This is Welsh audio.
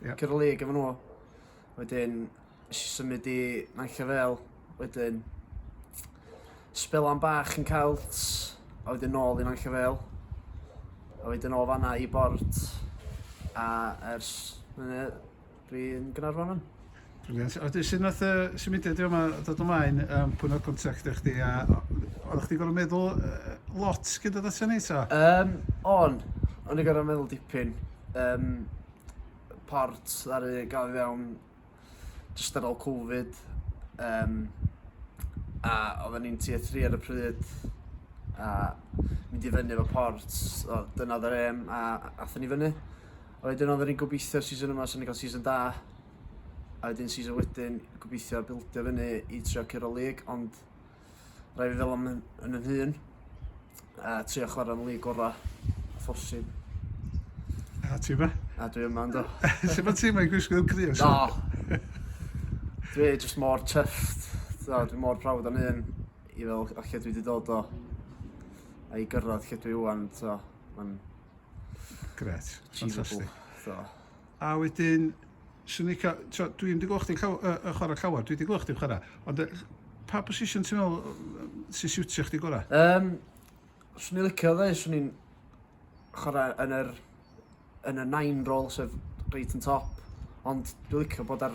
Ie. Cyda lig efo nhw. Wedyn, nes i symud i Nant y Fel. Wedyn, spel am bach yn Celts, a wedyn nôl i Nant y Fel. A wedyn o fanna i Bort, a ers hynny, dwi'n Gaernarfon yn. Brilliant. A wedyn, sut nath y symudiad i fama dod ymlaen? Um, pwy'n oedd contact eich di? A oeddech chdi'n gorfod meddwl uh, lot gyda dod ato ni, ta? Um, on, o'n i'n gorfod meddwl dipyn. Um, port ddaru gael i fewn jyst ar ôl Covid um, a oedden ni'n tier 3 ar y pryd a mynd i fyny efo port o, dyna oedd yr em a athyn ni fyny a wedyn oedden ni'n gobeithio season yma sy'n ni'n cael season da a wedyn season wedyn gobeithio bildio fyny i trio Cyrol League ond rhai fi fel yn yn yn hun a trio chwarae'n lig ora phosib. A ti yma? A dwi yma ynddo. Sut mae ti yma i gwisgo grio? Do! Dwi just mor chuffed. Do, dwi mor proud o'n un i fel o lle dwi wedi dod o a i gyrraedd lle dwi wan. So, mae'n... Gret. Fantastic. So. A wedyn, Swn i'n cael, tro, dwi ddim wedi gweld chdi'n llaw, uh, uh, chwarae llawer, dwi wedi gweld chdi'n chwarae, ond uh, pa position ti'n meddwl uh, sy'n siwtio chdi gorau? Um, swn i'n licio dde, swn i'n chwarae yn yr, yn y nine rôl, sef reit yn top, ond dwi'n licio bod ar